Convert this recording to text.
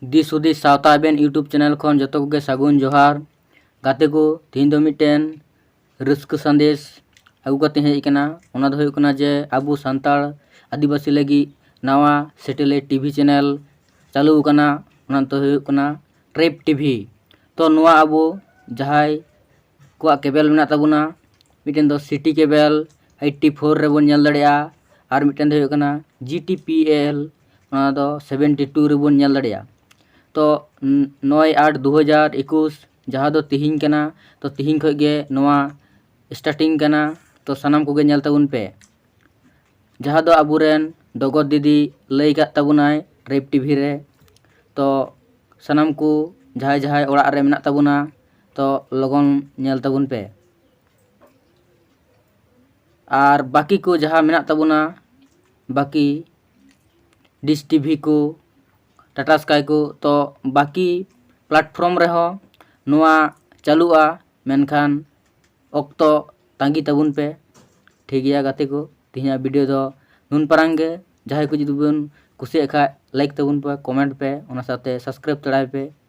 ᱫᱤᱥ ᱦᱩᱫᱤᱥ ᱥᱟᱶᱛᱟ ᱟᱵᱮᱱ ᱤᱭᱩᱴᱩᱵᱽ ᱪᱮᱱᱮᱞ ᱠᱷᱚᱱ ᱡᱚᱛᱚ ᱠᱚᱜᱮ ᱥᱟᱹᱜᱩᱱ ᱡᱚᱦᱟᱨ ᱜᱟᱛᱮ ᱠᱚ ᱛᱮᱦᱮᱧ ᱫᱚ ᱢᱤᱫᱴᱮᱱ ᱨᱟᱹᱥᱠᱟᱹ ᱥᱟᱸᱫᱮᱥ ᱟᱹᱜᱩ ᱠᱟᱛᱮ ᱦᱮᱡ ᱟᱠᱟᱱᱟ ᱚᱱᱟ ᱫᱚ ᱦᱩᱭᱩᱜ ᱠᱟᱱᱟ ᱡᱮ ᱟᱵᱚ ᱥᱟᱱᱛᱟᱲ ᱟᱹᱫᱤᱵᱟᱹᱥᱤ ᱞᱟᱹᱜᱤᱫ ᱱᱟᱣᱟ ᱥᱮᱴᱮᱞᱟᱭᱤᱴ ᱴᱤᱵᱷᱤ ᱪᱮᱱᱮᱞ ᱪᱟᱹᱞᱩ ᱟᱠᱟᱱᱟ ᱚᱱᱟ ᱫᱚ ᱦᱩᱭᱩᱜ ᱠᱟᱱᱟ ᱴᱨᱮᱯ ᱴᱤᱵᱷᱤ ᱛᱚ ᱱᱚᱣᱟ ᱟᱵᱚ ᱡᱟᱦᱟᱸᱭ ᱠᱚᱣᱟᱜ ᱠᱮᱵᱮᱞ ᱢᱮᱱᱟᱜ ᱛᱟᱵᱚᱱᱟ ᱢᱤᱫᱴᱮᱱ ᱫᱚ ᱥᱤᱴᱤ ᱠᱮᱵᱮᱞ ᱮᱭᱤᱴᱴᱤ ᱯᱷᱳᱨ ᱨᱮᱵᱚᱱ ᱧᱮᱞ ᱫᱟᱲᱮᱭᱟᱜᱼᱟ ᱟᱨ ᱢᱤᱫᱴᱮᱱ ᱫᱚ ᱦᱩᱭᱩᱜ ᱠᱟᱱᱟ ᱡᱤ ᱴᱤ ᱯᱤ ᱮᱞ ᱱᱚᱣᱟ ᱫᱚ ᱥᱮᱵᱷᱮᱱᱴᱤ ᱴᱩ ᱨᱮᱵᱚᱱ ᱧᱮᱞ ᱫᱟᱲᱮᱭᱟᱜᱼᱟ ᱛᱚ ᱱᱚᱭ ᱟᱴ ᱫᱩ ᱦᱟᱡᱟᱨ ᱮᱠᱩᱥ ᱡᱟᱦᱟᱸ ᱫᱚ ᱛᱤᱦᱤᱧ ᱠᱟᱱᱟ ᱛᱚ ᱛᱤᱦᱤᱧ ᱠᱷᱚᱱ ᱜᱮ ᱱᱚᱣᱟ ᱥᱴᱟᱴᱤᱝ ᱠᱟᱱᱟ ᱛᱚ ᱥᱟᱱᱟᱢ ᱠᱚᱜᱮ ᱧᱮᱞ ᱛᱟᱵᱚᱱ ᱯᱮ ᱡᱟᱦᱟᱸ ᱫᱚ ᱟᱵᱚ ᱨᱮᱱ ᱰᱚᱜᱚᱨ ᱫᱤᱫᱤ ᱞᱟᱹᱭ ᱟᱠᱟᱫ ᱛᱟᱵᱚᱱᱟᱭ ᱨᱮᱯ ᱴᱤᱵᱷᱤ ᱨᱮ ᱛᱚ ᱥᱟᱱᱟᱢ ᱠᱚ ᱡᱟᱦᱟᱸᱭ ᱡᱟᱦᱟᱸᱭ ᱚᱲᱟᱜ ᱨᱮ ᱢᱮᱱᱟᱜ ᱛᱟᱵᱚᱱᱟ ᱛᱚ ᱞᱚᱜᱚᱱ ᱧᱮᱞ ᱛᱟᱵᱚᱱ ᱯᱮ ᱟᱨ ᱵᱟᱹᱠᱤ ᱠᱚ ᱡᱟᱦᱟᱸ ᱢᱮᱱᱟᱜ ᱛᱟᱵᱚᱱᱟ ᱵᱟᱹᱠᱤ ᱰᱤᱥ ᱴᱤᱵᱷᱤ ᱠᱚ ᱴᱟᱴᱟ ᱥᱠᱟᱭ ᱠᱚ ᱛᱚ ᱵᱟᱹᱠᱤ ᱯᱞᱟᱴᱯᱷᱨᱚᱢ ᱨᱮᱦᱚᱸ ᱱᱚᱣᱟ ᱪᱟᱹᱞᱩᱜᱼᱟ ᱢᱮᱱᱠᱷᱟᱱ ᱚᱠᱛᱚ ᱛᱟᱺᱜᱤ ᱛᱟᱵᱚᱱ ᱯᱮ ᱴᱷᱤᱠ ᱜᱮᱭᱟ ᱜᱟᱛᱮ ᱠᱚ ᱛᱮᱦᱮᱧᱟᱜ ᱵᱷᱤᱰᱤᱭᱳ ᱫᱚ ᱱᱩᱱ ᱯᱟᱨᱟᱝ ᱜᱮ ᱡᱟᱦᱟᱸᱭ ᱠᱚ ᱡᱩᱫᱤ ᱵᱚᱱ ᱠᱩᱥᱤᱭᱟᱜ ᱠᱷᱟᱱ ᱞᱟᱭᱤᱠ ᱛᱟᱵᱚᱱ ᱯᱮ ᱠᱚᱢᱮᱱᱴ ᱯᱮ ᱚᱱᱟ ᱥᱟᱶᱛᱮ ᱥᱟᱵᱥᱠᱨᱟᱭᱤᱵᱽ ᱛᱟᱲᱟᱭ ᱯᱮ